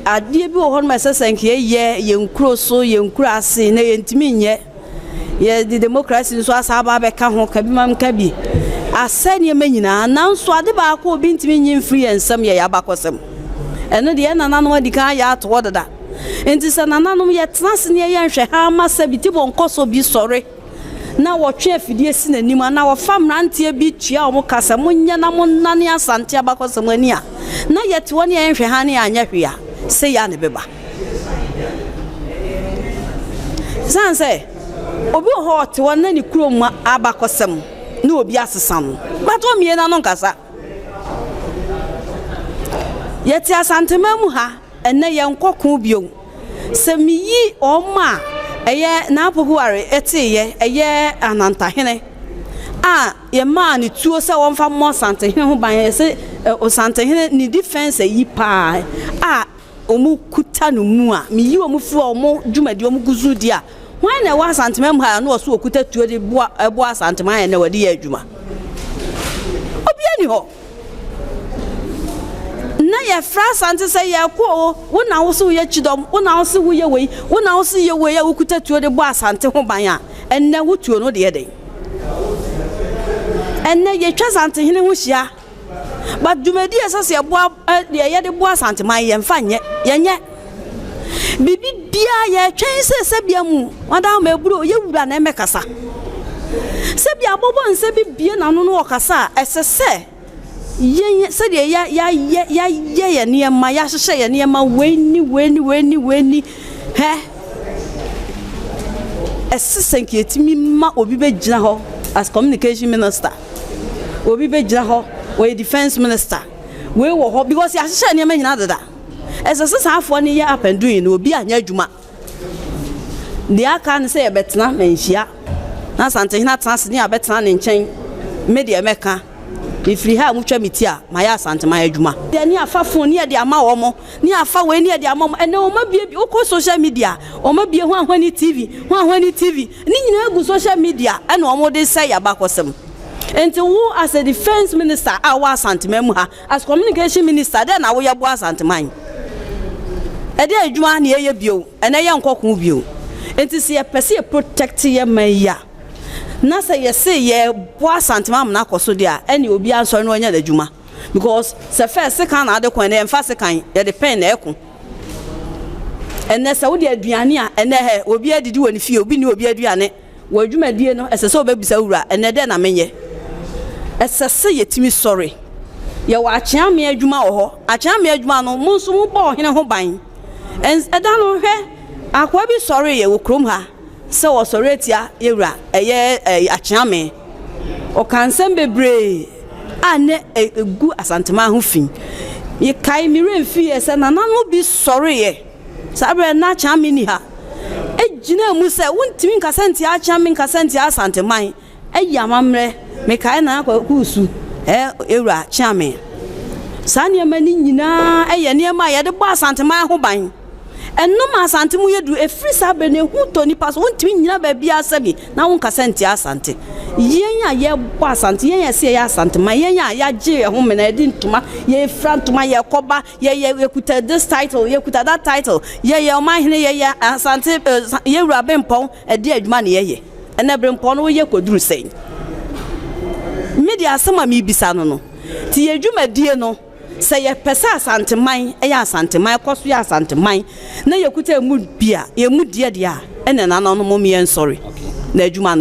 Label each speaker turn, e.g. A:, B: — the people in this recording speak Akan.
A: Adeɛ bi wɔ hɔ nom a ɛsɛ sɛ nka yɛyɛ yɛn kuro so, yɛn kuro ase na yɛntumi nyɛ. Yɛde demokrasi nso asa aba abɛka ho ka bi ma nka bi. Asɛe nneɛma nyinaa nanso ade baako a obi ntumi nyi mfiri yɛn nsam yɛ yɛn abakɔsɛm. Ɛno deɛ yɛn nananom adi kan ayɛ ato hɔ dada. Nti sɛ nananom yɛtena ase na yɛyɛ nhwɛhaa ma sɛ bi tebɔ nkɔ so bi sɔre. na wɔtwe afidie si n'anim anaa wɔfa mmeranteɛ bi tua wɔn ka sɛ monyɛ na monnane Asante abakɔsɛm ani a, na yɛte hɔ ne yɛnhwɛ hann ne yɛanyɛ hwee a, sei ara na ɛbɛba. Ɛsiane sɛ obi wɔ hɔ ɔte hɔ na ne kurom abakɔsɛm ne obi asesa no, but ɔmmie n'ano nkasa. Yɛte Asanteman mu ha. Ɛnnɛ yɛnkɔ ko bio. Sɛ miyi wɔn a ɛyɛ Naapoguare teeyɛ, ɛyɛ Anantahene a yɛmaa no tuo sɛ wɔmfa mmɔ Nsantehene ho ban, yɛse Nsantehene ne defense ayi paa a wɔkuta no mu a, miyi wɔn firi wɔn dwumadi a wɔgu so di a, hwan na ɛwɔ Asanteman mu ha a na ɔse ɔkuta tuo de boa Asanteman a ɛnnɛ wɔde yɛ adwuma? Obiara nni hɔ. Na yɛfrɛ Asante sɛ, Yɛreko o, wo na wo se woyɛ kyidɔm, wo na wo se woyɛ wei, wo na wo se yɛ wei a wokuta tuo de bɔ Asante ho ban a, ɛnnɛ wo tuo no deɛ dɛn? Ɛnnɛ yɛtwa Asantehene ho hyia, but dwumadie a ɛsɛ sɛ yɛboa, deɛ yɛde boa Asanteman yi yɛmfa nyɛ, yɛnyɛ. Biribi biara yɛtwɛn sɛ sɛbea mu ɔda ho mɛburo ɔyɛ wura na ɛmɛkasa. Sɛbea abɔbɔ nsɛ bi bie n'ano no ɔkasa a ɛsɛ sɛ yɛn sɛdeɛ ya ya ya ya yɛ yɛn nneɛma yɛahyehyɛ yɛn nneɛma wei ni wei ni wei ni wei ni hɛ ɛsɛ sɛ nka yɛtumi ma obi bɛgyina hɔ as communication minister obi bɛgyina hɔ wɔyɛ defense minister wei wɔ hɔ because yɛahyehyɛ nneɛma nyinaa dada. Ɛsɛ sɛ saa afoa no yɛ apɛn du nyinaa, obi anyɛ adwuma. Deɛ aka ne sɛ yɛbɛtena na nhyia, na Asantehene atena ase ne yɛabɛtena ne nkyɛn. Me deɛ mɛka, mefiri ha a motwa me ti a, mayɛ Asanteman adwuma. Deɛ ne yɛafa fon ne yɛde ama wɔn, ne yɛafa wei ne yɛde ama wɔn. Ɛnnɛ wɔn abuebue, wokɔ social media a, wɔn abue Hwan Hwani TV, Hwan Hwani TV. Ne nyinaa gu social media ɛna wɔde resɛe yɛn abakɔsɛm. Enti wo as a defence minister a wowɔ Asanteman mu ha, As communication minister dɛn na woyɛ boa Asanteman? Ɛdeɛn adwuma na yɛyɛ bio? Ɛnɛ yɛnkɔ ko bio. Nti sɛ yɛpɛ sɛ yɛ protect yɛ man yi a, na sɛ yɛse yɛboa Asanteman ma no akɔ so deɛ a, ɛnneɛ obiara nsɔre na ɔnyɛ n'adwuma. Because sɛ first sekan na ade ko a, ɛnɛ yɛmfa sekan, yɛde pɛn na ɛko. Ɛnɛ sɛ wode aduane a, ɛnɛ hɛ, obiara didi wɔ ne fie, obi nni obi aduane. Wɔ adwumadie no, ɛsɛ sɛ wobɛbisa wura, ɛnnɛ dɛn na menyɛ? Ɛsɛ sɛ yɛtumi sɔre. Yɛwɔ akyeamee adwuma wɔ hɔ. Akyeamee adwuma no, mo nso mobɔ ɔhene ho ban. Ɛns, ɛda no, hwɛ, akoa bi sɔreeɛ wɔ kurom ha sɛ ɔresɔre atia yɛn wura, ɛyɛ ɛɛ akyeamee. Ɔkaa nsɛm bebree a nnɛ ɛ, ɛgu Asanteman ho fi. Mekae, me werɛ mfiiɛ sɛ nananom bi sɔreeɛ. Saa berɛ no na Akyame nni ha. Ɛgyinaa mu sɛ, Wontumi nkasa ntia Akyame, nkasa ntia Asanteman. Ayi amammerɛ. Mekae Nana Kwaku Osu, ɛɛ Wura Kyeame. Saa nneɛma no nyinaa yɛ nneɛma a yɛde bɔ Asanteman ho ban. Ɛno ma Asante mu yɛ duru. Ɛfiri saa berɛ no, ehu tɔ nnipa so. Wontumi nnyina baabiara sɛbi na wonkasa ntia Asante. Yɛn a yɛbɔ Asante, yɛn a yɛse yɛyɛ Asanteman, yɛn a yɛagye yɛn ho mena, yɛde ntoma, yɛfira ntoma, yɛkɔba, Yɛ yɛ yɛ kuta this title yɛ kuta that title yɛ yɛ ɔman hene yɛ yɛ asante yɛ wura bempɔn ɛdeɛ adwuma ne yɛ yɛ ɛnɛ brempɔn no wo yɛ kɔ duru sɛn me deɛ asɛm a me bisa no no ti yɛ dwuma die no sɛ yɛ pɛ sɛ asante man ɛyɛ asante man ɛkɔ so yɛ asante man na yɛ kuta ɛmu bia yɛ mu deɛ deɛ a ɛnɛ nana no mo me yɛ nsɔre na adwuma no.